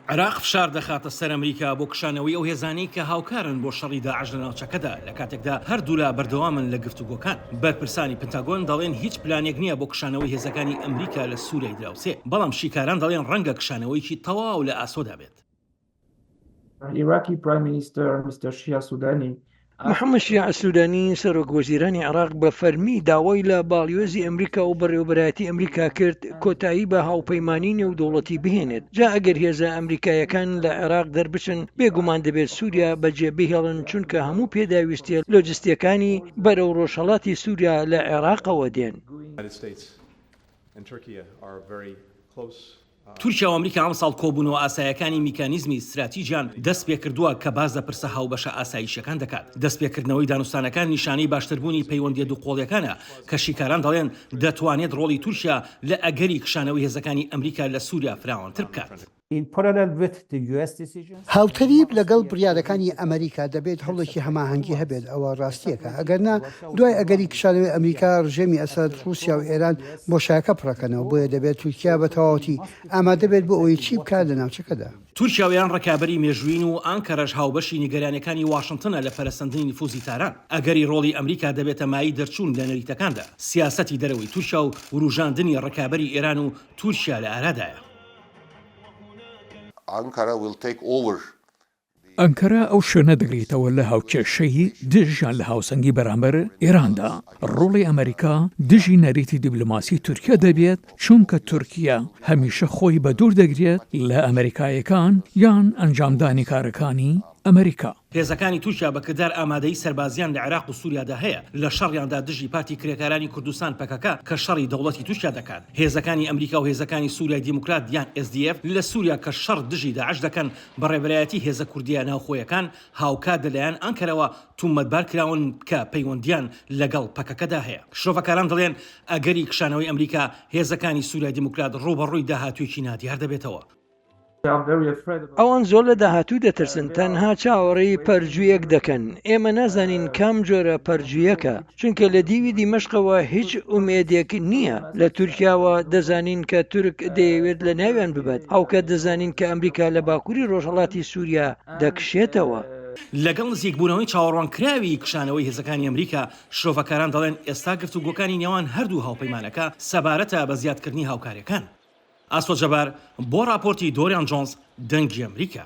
عێراق فشار دەخاتە سەر ئەمریکا بۆ کشانەوەی ئەو هێزانەی کە هاوکارن بۆ شەڕی داعش لە ناوچەکەدا، لە کاتێکدا هەردوولا بەردەوامن لە گفتوگۆکان. بەرپرسانی پنتاگۆن دەڵێن هیچ پلانێک نییە بۆ کشانەوەی هێزەکانی ئەمریکا لە سووریای دراوسێ، بەڵام شیکاران دەڵێن ڕەنگە کشانەوەیەکی تەواو لە ئاسۆدا بێت. Iraqi Prime Minister Mr. Shia Soudani محەمەد شیاع سوودانی سەرۆک وەزیرانی عێراق بە فەرمی داوای لە باڵیۆزی ئەمریکا و بەڕێوەبەرایەتی ئەمریکا کرد کۆتایی بە هاوپەیمانی نێودوڵەتی بهێنێت جا ئەگەر هێزە ئەمریکایەکان لە عێراق دەربچن بێگومان دەبێت سووریا بەجێ بهێڵن چونکە هەموو پێداویستیە لۆجستیەکانی بەرەو ڕۆژهڵاتی سووریا لە عێراقەوە دێن. تورکیا و ئەمریکا ئەمساڵ کۆبوونەوە ئاسایەکانی میکانیزمی ستراتیجیان دەستپێکردووە کە باس لە پرسە هاوبەشە ئاسایشییەکان دەکات. دەستپێکردنەوەی دانوستانەکان نیشانەی باشتربوونی پەیوەندییە دووقۆڵییەکانە کە شیکاران دەڵێن دەتوانێت ڕۆڵی تورکیا لە ئەگەری کشانەوەی هێزەکانی ئەمریکا لە سووریا فراوانتر بکات. هاوتەریب لەگەڵ بڕیارەکانی ئەمەریکا دەبێت هەوڵێکی هەماهەنگی هەبێت، ئەوە ڕاستییەکە، ئەگەرنا دوای ئەگەری کشانەوەی ئەمریکا، ڕژێمی ئەسەد، ڕووسیا و ئێران بۆشایەکە پڕەکەنەوە، بۆیە دەبێت تورکیا بە تەواوەتی ئامادە بێت بۆ ئەوەی چی بکات لە ناوچەکەدا. تورکیا و ئێران ڕکابەری مێژوویین و ئانکەرەش هاوبەشی نیگەرانییەکانی واشنتنە لە پەرەسەندنی نفوزی تاران. ئەگەری ڕۆڵی ئەمریکا دەبێتە مایەی دەرچوون لە نەریتەکاندا. سیاسەتی دەرەوەی تورکیا و ورووژاندنی ڕکابەری ئێران و تورکیا لە ئارادایە. Ankara will take over. ئەنکەرە ئەو شوێنە دەگرێتەوە لە هاوکێشەی دژ یان لە هاوسەنگی بەرامبەر ئێراندا. ڕۆڵی ئەمەریکا دژی نەریتی دیبلۆماسی تورکیە دەبێت، چونکە تورکیە هەمیشە خۆی بەدوور دەگرێت لە ئەمەریکاییەکان یان ئەنجامدانی کارەکانی ئەمەریکا. هێزەکانی تورکیا بە کردار ئامادەیی سەربازییان لە عێراق و سوریادا هەیە لە شەڕیاندا دژی پارتی کرێکارانی کوردستان، پەکەکە، کە شەڕی دەوڵەتی تورکیا دەکات. هێزەکانی ئەمریکا و هێزەکانی سوریای دیموکرات یان SDF لە سوریا کە شەڕ دژی داعش دەکەن بە ڕێبەرایەتی هێزە کوردییە ناوخۆیەکان هاوکات لە لایەن ئانکەرەوە تومەتبار کراون کە پەیوەندییان لەگەڵ پەکەکەدا هەیە. شرۆڤەکاران دەڵێن ئەگەری کشانەوەی ئەمریکا هێزەکانی سوریای دیموکرات ڕووبەڕووی داهاتوویەکی نادیار دەبێتەوە. ئەوان زۆر لە داهاتوو دەترسن تەنها چاوەڕێی پەرجوویەک دەکەن، ئێمە نازانین کام جۆرە پەرجوویەکە، چونکە لە دیوی دیمەشقەوە هیچ ئومێدێک نییە، لە تورکیاوە دەزانین کە تورک دەیەوێت لە ناویان ببات، هاوکات دەزانین کە ئەمریکا لە باکووری ڕۆژهەڵاتی سووریا دەکشێتەوە. لەگەڵ نزیکبوونەوەی چاوەڕوانکراوی کشانەوەی هێزەکانی ئەمریکا، شرۆڤەکاران دەڵێن ئێستا گفتوگۆکانی نێوان هەردوو هاوپەیمانەکە سەبارەتە بە زیادکردنی هاوکارییەکان. ئاسۆ جەبار بۆ ڕاپۆرتی دۆریان جۆنس دەنگی ئەمریکا.